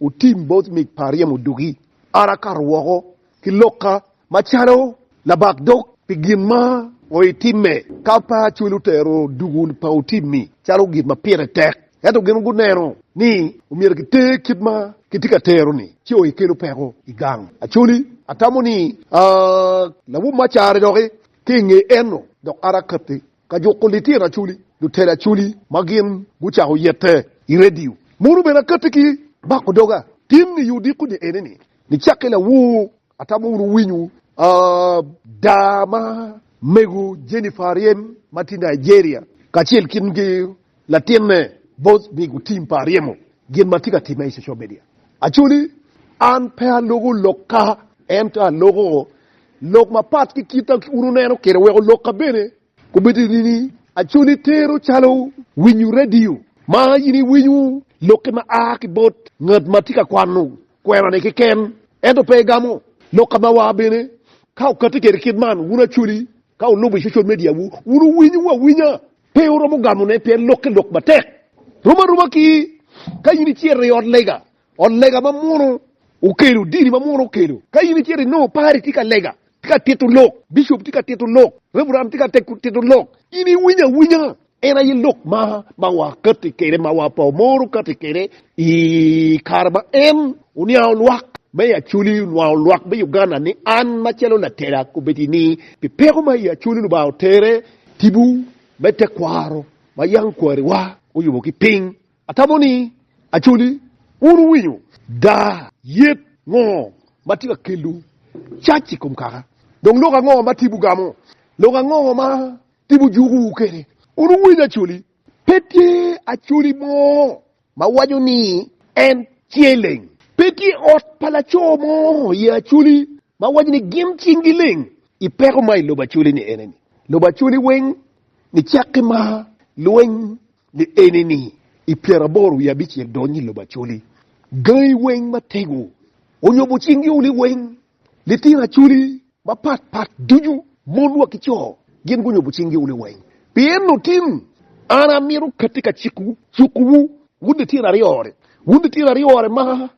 Wutim bot mic pa ryemo dugi, an akato woko ki lokka macalo labak dog pi gin ma wuitimme. Ka pe acwel wutero dugu pa wutim-mi calo gin ma pire tek, ento gin guneno ni omyero kiter kit ma kitye ka tero-ni, ci oye kelo peko i gang Acholi. Atamo ni, aa, lawob me acara doki ki i nge enno, dok an akatti Ka juko litino acholi, lutelo acholi ma gin gucako yette i redio mono bene akatti ki bako doga. Tim ni odiko ni ene ni, nicakke lawoo atamo wunu winyo ada ma mego Jennifer Ariem ma tye Nigeria kacel ki Latinne both ni gutim pa aryemo gin ma tye ka timme i social media. Actually an pe aloko lok ka ento aloko lok mapat ki kit a un wuneno kede weko lok ka bene gubedo nini actually tero calo winyo radio ma in i winyo loki ma a ki bot ngat ma tye ka kwano kwena ni keken ento pe igamo lok ka ma wa bene ka okati kede kit man wun actually ka wulubo i social media wu wun wuwinyo awinya Pe wuromo gamone pien lokke lok matek. Rom aroma ki ka in icito i ot lega, ot lega ma muno okelo, dini ma muno okelo. Ka in icito inongo pari tye ka lega, tye ka tito lok, bicop tye ka tito lok, reveran tye ka tito lok, in iwinyo awinya. En aye lok ma ma wakati kwede, ma wa pe wamoro kati kwede i kare ma en oniango lwak ma i Acholi, onwango lwak me Uganda ni an macalo latela kobedi ni pi peko ma i Acholi Lubanga otere. Tipo me tekwaro ma yam kwariwa oyubo ki piny. Atamo ni Acholi wun wuwinyo daa yet ngo ma tye ka kelo cac i kom kaka, dong lok ango ma tipo gamo? Lok ango ma tipo jukowu kwede? Wun wuwinyo Acholi? Pe tye Acholi mo ma waco ni en tye leng. Pe tye ot pa laco mo i Acholi ma waco ni gin cinggi leng i peko ma i lobo Acholi ni ene ni, lobo Acholi weng ni cakke ma lweny ni ene ni i pyeraboro wiye abicel dony i lobo Acholi, gangi weng ma tego onyobo cinggi uni weng. Litino acholi mapat pat ducu, mon wa ki co, gin gunyobo cing gi un liweny. Pien otin, an amito katti ka cik wu, cuku wu, wun litino aryo ni, wun litino aryo ni ma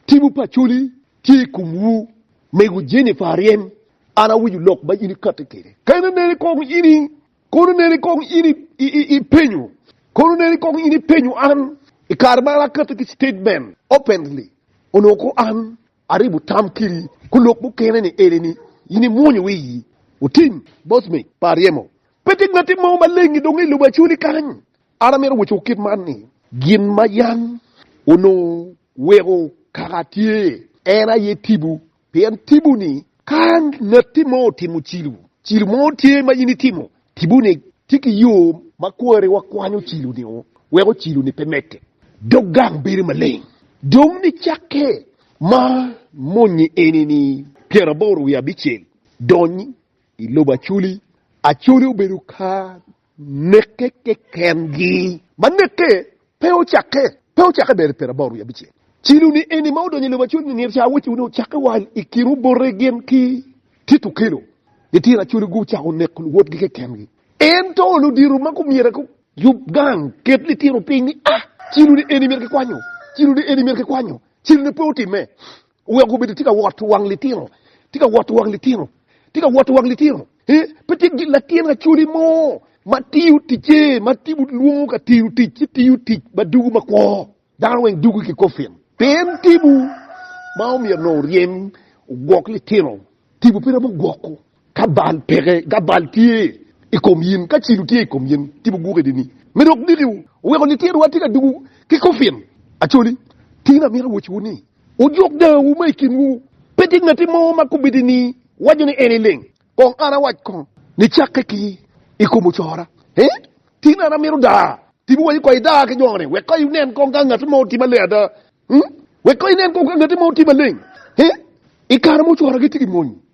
timwu pa acholi tye i kom wu, mego Jennifer aryem, an awinyo lok ma in i katti kwede. Kene nene kong in i, kono nene kong in i, i, i, i penyo, kono nene kong in i penyo an, i kare ma an akatti ki statement openly, onongo ko an, Aribo tam kiri ku lok mukene ni eni ni in i mwonyo wiyi otim bos me pa ryemo. Pe tye ngati mo ma lengi dong i lobo acoli kany. An amito woco kit man ni gin ma yam onongo weko kaka tye en aye tibu, pien tibu ni ka ngati mo otimo cilu, cilu mo tye ma in itimo Kibune tye ki yo ma kwari wakwanyo ocilo-ni o wek ocilo-ni pe medde. Dog gang bedo maleng. Dong nicakke ma moni enini pyeraboro wiye abicel dony i lobo Acoli. Acoli obedo ka nekke keken-gi ma nekke. Pe ocakke, pe ocakke ber i Perabor wiye abicel. Cilo ni eni ma odonyo i lobo acol ni nino ca awecci wunu ocakke wa i kin obote gin ki tit okelo. Litino acoli gu ocako neko luwotgi keken gi. En to ludito ma gu myero gu yub gang ket litino piny ni ah cilo ni eni myero ki kwanyo, cilo ni eni myero ki kwanyo, cilo ni pe otimme. Wek obedo tye ka wot wang litino, tye ka wot wang litino, tye ka wot wang litino. Eh, pe tye gi latin acoli mo ma tiyo ticce, ma tipo lwongo ka tiyo tic, ci tiyo tic ma dugu ma kwo. Dano weng dugu ki kofin. Pien tipo ma omyero nongo oryem ogwok litino, tipo pe romo gwoko. Ka bal peke, ka bal tye i kom yin, ka cilo tye i kom yin, tipo guke di ni, Me dok dikiwu, weko lityenwa tye ka dugu ki kofin. Acoli, tin amito wociwu ni, wujuk dangawu ma i kinwu. Pe tye ngatti mo ma kubedi ni waco ni en ileng, kong an awac kong ni cakke ki i kom ocora. He, tin an amito daa, tipo waco kong idaa ki jo ni, wek kong inen kong ka ngatti mo otime aleng ada. Wek kong inen kong ka ngatti mo otime aleng, he, i kare ma ocora gitye ki mony.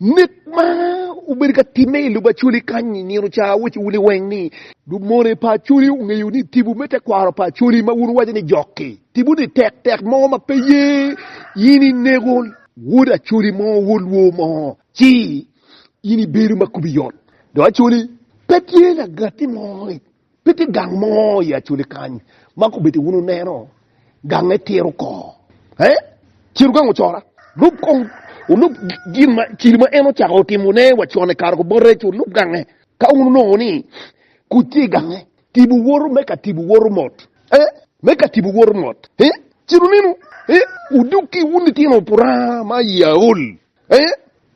Mit ma obedo ka timme i Lubaculi kany i nino ca awecci wun liweng ni, Lumone pa Acholi ongeyo ni tipo me tekwaro pa Acholi ma wun wuwaco ni jok-ki tipo ni tek tek mo ma pe ye in inego wod Acholi mo wod lwor mo ci in ibedo ma kubi yot dok Acholi pe tye lagatti mo. Pe tye gang mo i Acholi kany ma kubedi wun wuneno gange tiro oko. He? Ciro gang ocora. Lub kong, wulub gin ma cili ma en ocako timo ne wa con i kare kubote, ci wulub gange. Ka wun wunongo ni kuc tye i gange, tibu woto me ka tibu woto mot. He? Me ka tibu woto mot. He? Ci lunenu, he? Wudug ki wun litino Puranga ma i aol. He?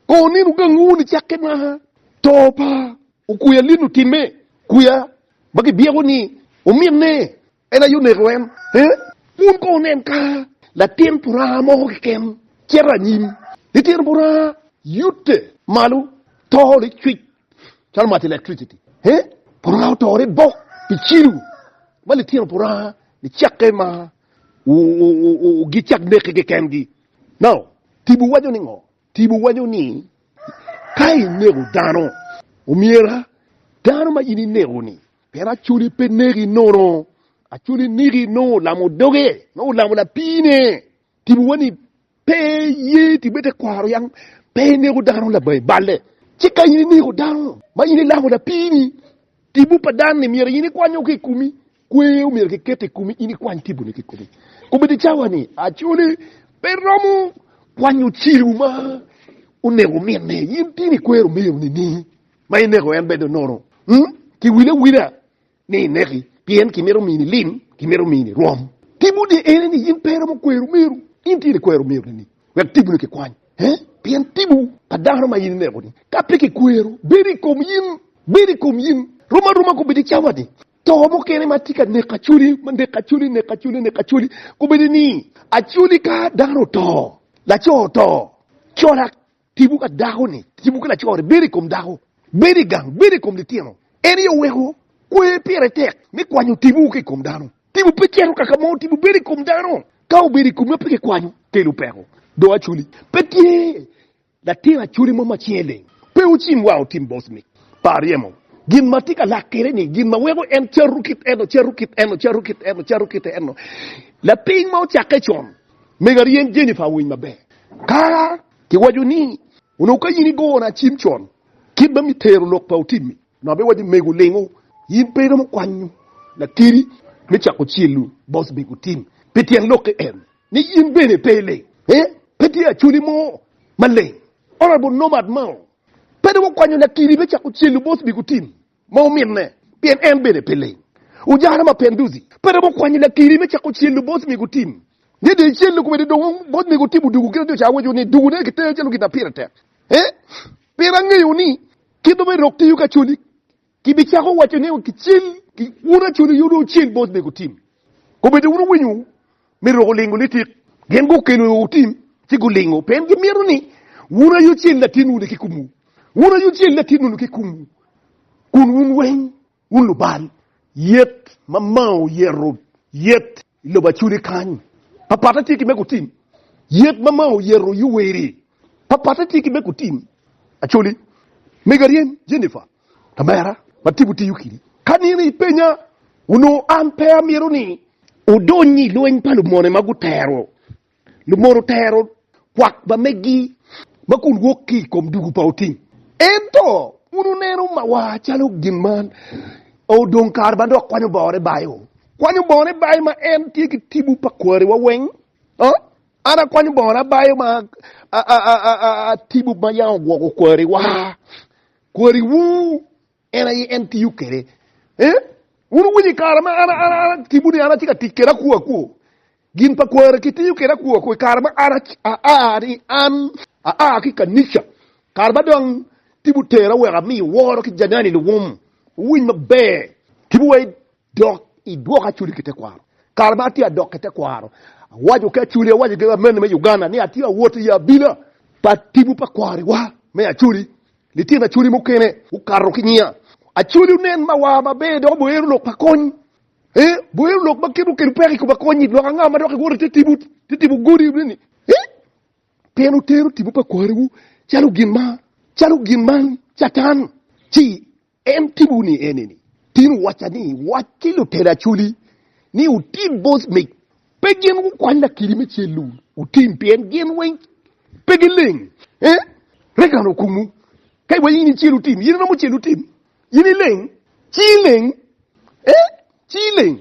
Ko nenu gangi wun i cakke naka to pa Okweya lin otimme, kweya ma kibyeko ni ominne en aye oneko en. Wun kono wunen ka latin puranga moko keken cito anyim, litino puranga yute malo, to licwic calo mac electricity. Puranga otore bok pi cilo ma litino puranga nicakke ma gicak neke kekengi. Now, Tibu waco ni ngo? Tipo waco ni, Ka ineko dano, omyera dano ma in ineko-ni, pien acoli pe neki nono, acoli niki nongo olamo doge, nongo olamo lapiine. Tipowa ni pe iye tipowa i tekwaro yam pe ineko dano labangi balle. Ci ka in ineko dano ma in ilamo lapiini, tipo pa dan-ni myero in ikwanyo ki i komi. Kwer omyero kiket i komi in ikwany kiboni ki komi. Komiti cawa ni Acholi pe romo kwanyo celu ma onego minne. In tin i kwer omyero nini ma ineko en bedo nono. Hmm? Ki wile awila ni ineki pien ki mito mini lim, ki mito mini rwom. Tibu ni ene ni in pe romo kwer omyero. In tin i kwer omyero nini wek tibuni ki kwany. He? Pien tibu pa dano ma in ineko ni ka pe ki kwero bedo i kom in, bedo i kom in. Rom aroma komiti cawa ni. To mukene ma tye ka neko Acholi, ma neko Acholi, neko Acholi, neko Acholi, kombeddi ni Acholi ka dano oto, laco oto, colak tipo ka dako-ni, tipo ki laco-ni bedo i kom dako, bedo i gang, bedo i kom litino. En aye oweko kwer pire tek me kwanyo tipo ki i kom dano. Tipo pe cito kaka mo, tipo bedo i kom dano. Ka obedo i komi ma pe kikwanyo, kelo peko. Dong Acholi pe tye Latin acholi mo macel leng pe ocim wa otim bos mic pa aryemo. Gin ma atye ka lak kwede ni, gin ma weko en cato kit eno, cato kit eno, cato kit eno, cato kit eno. Lapiny ma ocakke con, mega ryeny Jennifer owiny maber. Ka kiwaco ni, Onongo ka in igona acim con, kit ma mitero lok pa otim-mi. Nongo be wacci mego lingo in pe iromo kwanyo lakeri me cako celu bos mego tim pi tyen lokke en ni in bene pe iling. Ee, pe tye acholi mo maleng. Honorable Nomad Mao pe dong okwanyo lakeri me cako celu bos mego tim ma ominne pien en bene pe ling. Ujana Mapenduzi pe romo kwanyo lakeri me cako celu bos mego tim ni dong ecelu kwede dong bos mego tim odugu kit ma jo ca waco ni dugu ne kiteyo calo gin na pire tek. Ee, pien angeyo ni. Kit ma irok tiyo ki acoli, kibicako waco ni kicel ki wun acoli yo dong ocel bot nego tim. Kombeddi wun wuwinyo me roko lingo litik, gin gukelo otim ci gulingo pien gimito ni wun aye ocel latin wun ki kumwu. Wun aye ocel latin wun ki kumwu kun wun weng Wun lubal yet ma Mao oyeto, yet i lobo Acholi kany, papatte tye ki me kutim. Yet ma Mao oyeto i Owerri, papatte tye ki me kutim. Acholi, mego aryem, Jennifer, lamera ma tipo tiyo kidi. Ka nino ipenya, onongo an pe amito ni odony i lweny pa lumone ma gutero Lumono tero kwak ma megi ma kun wok ki i kom dugu pa otim. Ento, wun wuneno mawa calo gin ma odong kare ma dok kwanyo bore bayo. Kwanyo bone bayo ma en tye ki tipo pa kwariwa weng. An akwanyo bona bayo ma tipo ma yam ogwoko kwariwa. Kwariwu en aye en tiyo kwede. Wun wuwinyo i kare ma an atimo ni an atye ka tic kwede akwo akwo. Gin pa kware kitiyo kwede akwokwo i kare ma an aa ni an aa ki i kanica. Kare ma dong tipo otera wek ami woro ki Janani luwum wuwiny maber. Tipo wa i dok idwok Acholi ki tekwaro. Kare ma atye adok ki tekwaro, awaco ki Acholi, awaco ki amenni me Uganda ni atye awot i abila pa tipo pa kwarewa me Acholi. Litino Acholi mukene gukato ki ngiya. Acholi onen mawa maber dok oboyo lok pa kony Ee, boyo lok ma kit okelo peko i kom akony-nyi, lok anga ma dok iwoto ite tipo ite tipo godi ni, Ee, pien wutero tipo pa kwariwu calo gin ma calo gin ma Catan, ci en tibowu ni ene ni, Tin wuwacca ni, Wac ki lutela acoli ni wutim bot mic. Pe gin gukwany lakiri me cel-lu wutim, pien gin weng pe gileng. Ee, rega an okumu. Ka iwaco ni in icel wutim, in iromo cel wutim. In ileng, ci ileng, ee, ci ileng,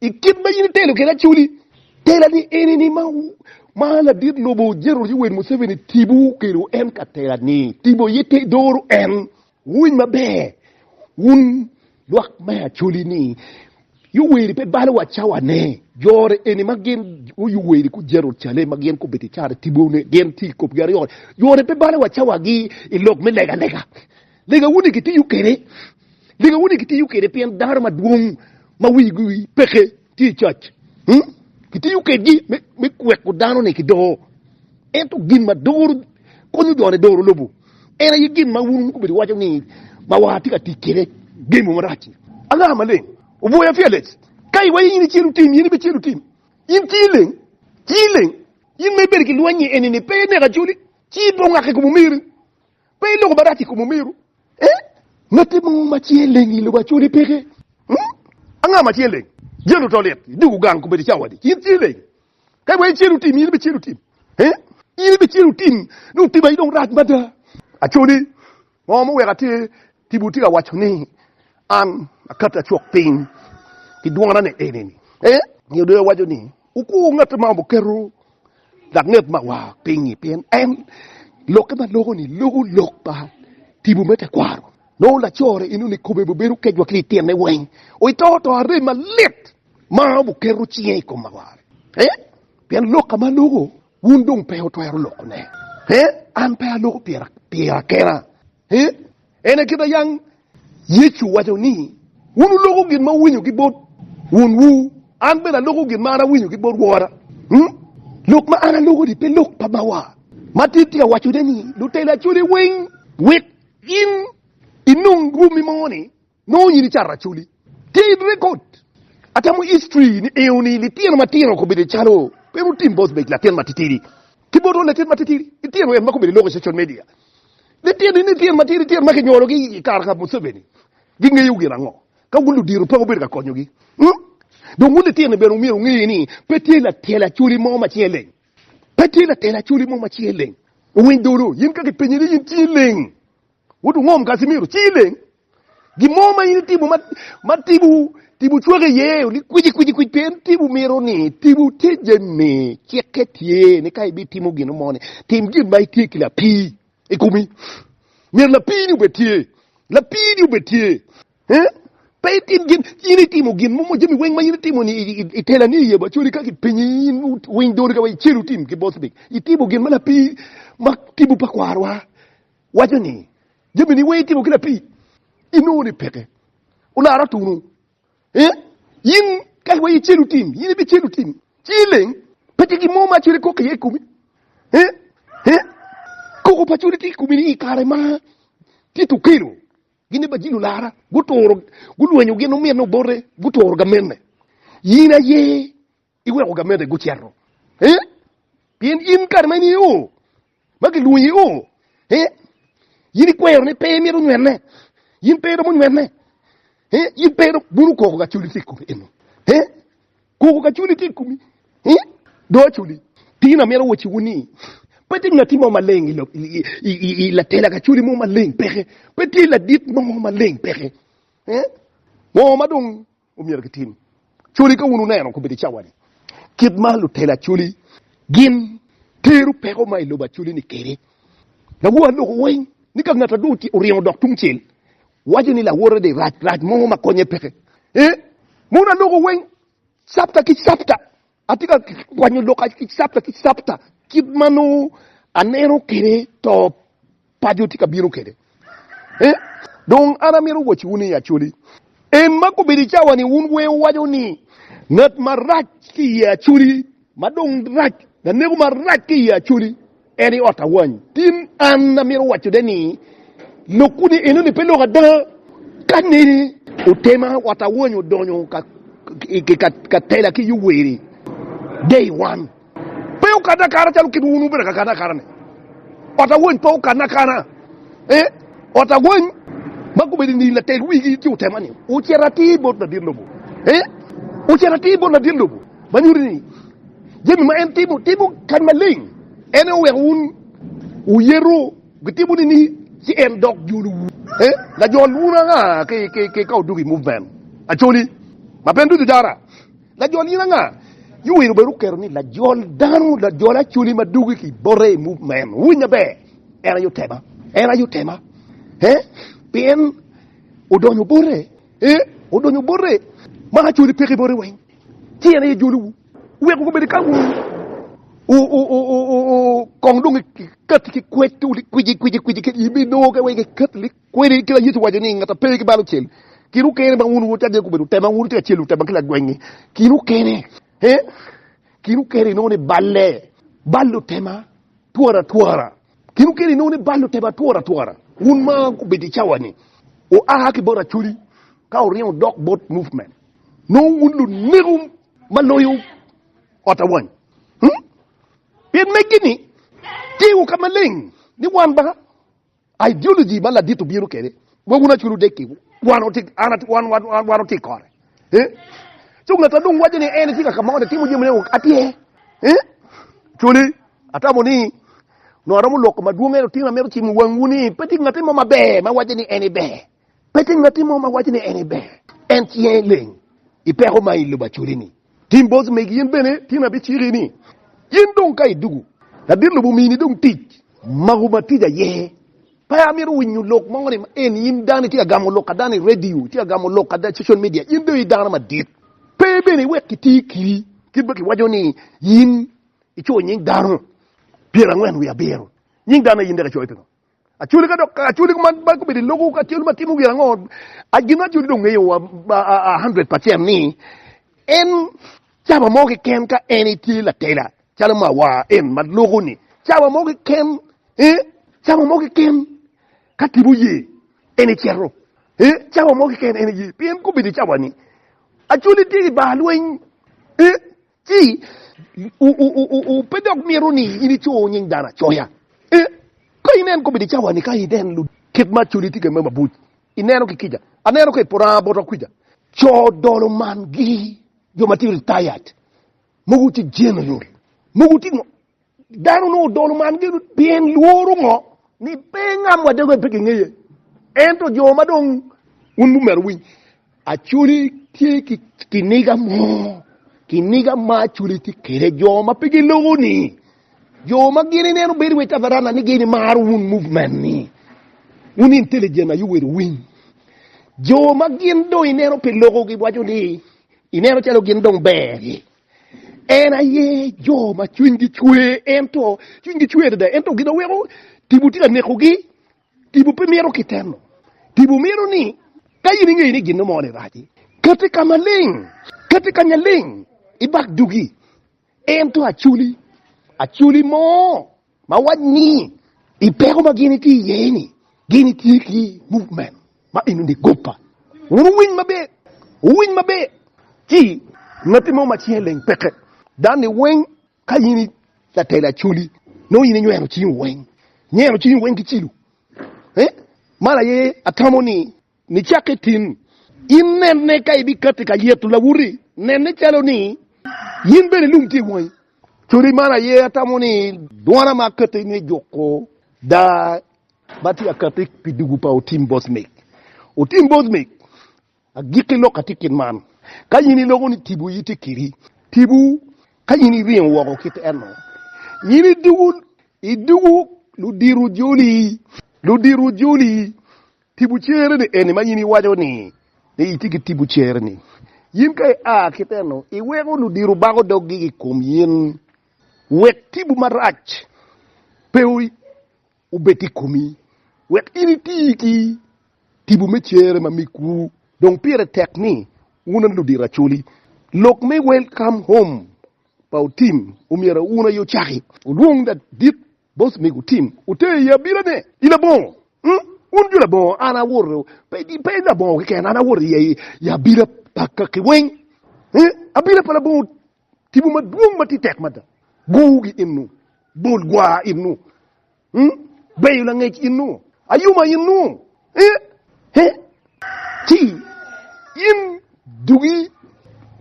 i kit ma in itelo kede Acholi, tela ni eni ni ma, ma ladit lobo General Yoweri Museveni tibo kelo en ka tela ni, tibo ye te doro en. Wuwiny maber, wun lwak me Acholi ni, Yoweri pe balo wa cawa ne, jore eni ma gin o Yoweri ku General Cale ma gin kubedo icara tibo ne, gin ti i kopgi aryo, jore pe balo wa cawa gi i lok me lega lega. Lega wuni kitiyo kwede, lega wuni kitiyo kwede pien dano madwong ma wigi peke tye i cac. Hmm? Kitiyo kwedgi me, me kweko dano ni ki doo. Ento gin ma doro konyo jo ni doro lobo en aye gin ma wun gubedo iwaco ni ma wa tye ka tic kwede gemo marac. Anga maleng oboya pi alec? Ka iwaco in icelu tim, in ibi celu tim. In ci ileng, ci ileng. In ma ibedo ki lweny-nyi eni-ni pe ineko acoli, ci ibongak i kom omeri. Pe iloko marac i kom omeru? Ee, ngatte mo ma cinge leng i lobo acole peke. Hmm? Anga ma cinge leng? Jalo oto lit, i dugo gang, kobedo cawa adi. In cingi leng? Ka iweko icelu tim, in ibicelu tim. Ee, in ibicelu tim. Nongo tim aye dong rac mada. Acoli, ngo ma oweko atye Tipo tye ka waco ni, An akati acok piny ki dwona ni eni ni. Ee, nyo dong ewaco ni, Wukur ngat ma oketo langet mawa piny-nyi, pien en lokke ma loko-ni loko lok pa tipo me tekwaro. Nongo lacore eno ni kome bibedo kecwa ki i tyene weng, oito to arem malit ma oketo cinge i kom mawa. Ee, pien lok ka ma loko, wun dong pe wutwero lokone. Ee, an pe aloko pira kena, Ee, en aye kite yang. Yecu owaco ni, Wun wuloko gin ma wuwinyo ki bot wunwu, an bene aloko gin ma an awinyo ki bot wora. Hmm? Lok ma an aloko-ni pe lok pa bawa. Matir tye ka wacone ni lutela coli weng wek in inong rwommi mo-ni Nongo nyini cato Acholi ted record. Atamo history ni eo ni litino matino kobedo calo Pero Tim Bosbeck latin matitidi ki Boto latin matitidi litino en ma kobedo iloko social media litino ni litino matidi litino ma kinyolo gi i kare ka Museveni gingeyo gin ango ka wun ludito pe wubedo ka konyogi mm dong wun litino ni bene wumyero wunge ni pe tye latel Acholi mo ma cinge leng pe tye latel Acholi mo ma cinge leng Owiny Dolo yin ka kipenyi ni yin cingi leng Wot wungom Casimiro, ci ileng. Gin mo ma in itimo ma tipo tipo cwaki iye ni kwici kwici kwic pe en tipo mito ni tipo tije ni cikke tye ni ka ibitimo gin mo ni tim gin ma itye ki lapii i kumi. Myero lapii ni obed tye. Lapii ni obed tye. Eh? Pe itim gin, in itimo gin mo mo jami weng ma in itimo ni itela ni iye bacodi ka kipinyi in winy doni ka wa icelu tim ki bosbik. Itimo gin ma lapii ma tipo pa kwarwa. waco ni, Jami ni weng itimo ki lapii, inongo ni peke olaro atunu. Ee, in ka wa icelu tim, in ibicelu tim, ci ileng, pe tye gin mo ma acel ikok iye i komi. Ee, ee, koko pa codi tye i komi ni i kare ma tye tukelo, gin ni bajilo lara, guturo, gulwenyo gin omyene obote, guturo gamenne. In aye Iweko gamede gucito ee, pien in kare ma in iye oo, ma gilwongi iye oo ee, in ikwero ni pe imito nywene, in pe iromo nywene ee, in pe iromo bulu koko gacoli tye i komi eno ee, koko gacoli tye i komi ee, do acoli. Tin amito wociwu ni, pe tye ngati mo maleng i latela gacoli mo maleng peke, pe tye ladit mo maleng peke ee, ngo ma dong Omyero kitim coli ka wun wuneno kobedi i cawa-ni kit ma lutelo acoli gin tero peko ma i lobo acoli-ni kwede. Lawor aloko weny ni ka ngat adu oringo odok tungcel, waco ni lawote de rac, rac mo ma konye peke. Ee, mono aloko weny capta ki capta. Atye ka kwanyo lok ki capta ki capta kit ma nongo aneno kede to pajo tye ka bino kede. E, dong an amito wacciwu ni Acoli en ma gubedo i cawa-ni wun wer wuwaco ni, Ngat marac ki i Acoli, ma dong rac, laneko marac ki i Acoli. En i ot awany. Tim an amito waco de ni lok kuni eno ni pe lok ada ka ni otema ot awany odonyo ka ka tela ki yuweri day wan pe okane akana calo kit wun wubedo ka kane akana ni ot awany pe okane akana e ot awany ma gubedo ni latel wigi ci otema ni ocito atir bot ladit lobo e ocito atir bot ladit lobo ma nyuti ni Jami ma en timo, timo kany maleng. En aye oweko wun wuyeto gitimo nini ci en dok jolowu. Eh, lajol wun anga ki ka odok i movement Acholi ma pe en ducu jara? Lajol in anga? Yuwiro bene oketo ni lajol dano, lajol Acholi ma dok ki bote i movement. Wuwinyo maber, en aye otema. En aye otema. Eh, pien odonyo bote. Eh, odonyo bote. Ma Acholi peke bote weng. Tyen aye jolowu wek wugubed i kamu kong dong ikati ki kwec kwici kwici kwici kit ibi nongo ka wek ikat ni kweli kila Yecu waco ni ngata pe ki balo cel kinu kene ma wunu wutadde kubedo tema wunu tye ka celo tema ki lagwengi kinu kene he kinu kene inongo ni balle ballo tema twara twara kinu kene inongo ni ballo tema twara twara wun ma kubedo i cawa ni oa ki bot acholi ka oringo dok bot movement Nongo wun luneko ma loyo ot awany. Hmm? Pien meggi-ni tyewu ka maleng ni wan ba ideology ma ladit obino kede, wa wun aculu dek-ki, wan oti, an ati, wan, wan, wan, wan oti kore. Eh? Co ngat ma dong waco ni en tye ka ka moni timo jami nego atye. Eh? Coli, atamo ni nongo aromo lwoko madwong ento tino amito cimo wangwu ni pe tye ngati mo maber ma waco ni en iber. Pe tye ngatti mo ma waco ni en aye ber, en ci en leng i peko ma i lobo acoli-ni. Tim bot megi in bene, tin abiciki ni, In dong ka idwogo, ladit lobo omini dong tic, mako matic aye. Pe amito winyo lok mo ni en in dano itye ka gamo lok ada ni radio, itye ka gamo lok ada i social media. In dong i dano madit. Pe bene iwek kiti kiri kit ma kiwaco ni in ico nying dano pyerangwen wiye abiro. Nying dano aye in dek icoyo pingo? Acholi ka dok acholi man ba gubedo i logo acholi ma timo gin ango? Gin ma acholi dong ngeyo wa hundred percent ni en caba mo keken ka en itye latela calo ma wa en ma logo ni caba mo keken eh caba mo keken ka tipo ye en iceto eh caba mo keken en ye pien gubedo caba ni acholi tye i bar lweny eh Ci, wupe dok mito ni inicoyo nying dano acoya. Ee, ka inen kobedi i cawa-ni, ka inen lu kit ma codi tye ka me mabuc, ineno ki kica. Aneno ka i poto anga bota kwica, co dolo man-gi, jo ma tye retired, mogo tye general, mogo tye ngo, Dano onongo dolo man gin pien lworo ngo ni pe ngam wa dego pe kingeye. Ento jo ma dong un bu mero winy acholi tye ki kiniga mo kiniga ma acholi tye kede jo ma pe gilogo ni jo ma gini neno bedo we tabarana ni gini maro un movement ni un intelligent ayo wero winy jo ma gin dong ineno pe logo gi waco ni ineno calo gin dong ber En aye jo ma cwinygi cwe ento cwinygi cwe adada ento gin oweko tipo tye ka nekogi. Tipo pe mito kiteno. Tipo mito ni ka in ingeyo ni gin mo ni raci, kati ka maleng, kati ka nyaleng ibak dugi. Ento acoli, acoli mo. Ma wac ni i peko ma gin itye iye ni gin itye ki movement ma inu ni guppa. Wun wuwiny maber, wuwiny maber ci ngatti mo macel leng peke. Dan ni weng ka in latelo acoli nongo in inywero cingi weng, nyero cingi weng ki cilo. Eh? Man aye atamo ni Nicakke tin, in nene ka ibikatti ka lyeto lawoti, nene calo ni in bene lum tye i wangi. Codi man aye atamo ni dwona ma akatti me juko daa ma tye ka katti pi dugu pa Otim Bosmik. Otim Bosmik, agikki lok atye kit man, Ka in iloko ni tipo iyi tye kedi, tipo ka in iringo woko kit eno. In idugu, idugu ludiro joli, ludiro joli. Tipo cere-ni eni ma in iwaco ni itye ki tipo cere-ni. In ka ia ki teno, iweko ludiro bako doggi i kom in wek tipo marac pe obed i komi, wek in iti ki tipo me cere ma migwu. Dong pire tek ni wun ludiro acoli. Lok me Welcome Home pa Otim omyero wun aye ocaki. Olwong ladit Bos mego Tim oter i abila ne i labongo wun jo labongo an awoto pe labongo keken an awoto i abila pa kaki weng abila pa labongo tipo madwong matye tek mada gowu gi inu bol gwar inu beyo langec inu ayuma inu Ci in dugi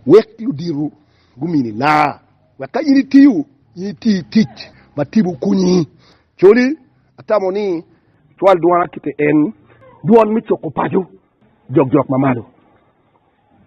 wek luditu gumini laa, wek ka in itiyo, in iti tic ma tipo kunyi. Coli atamo ni cwal dwona kite en, dwon me cuko paco jokjok mamalo.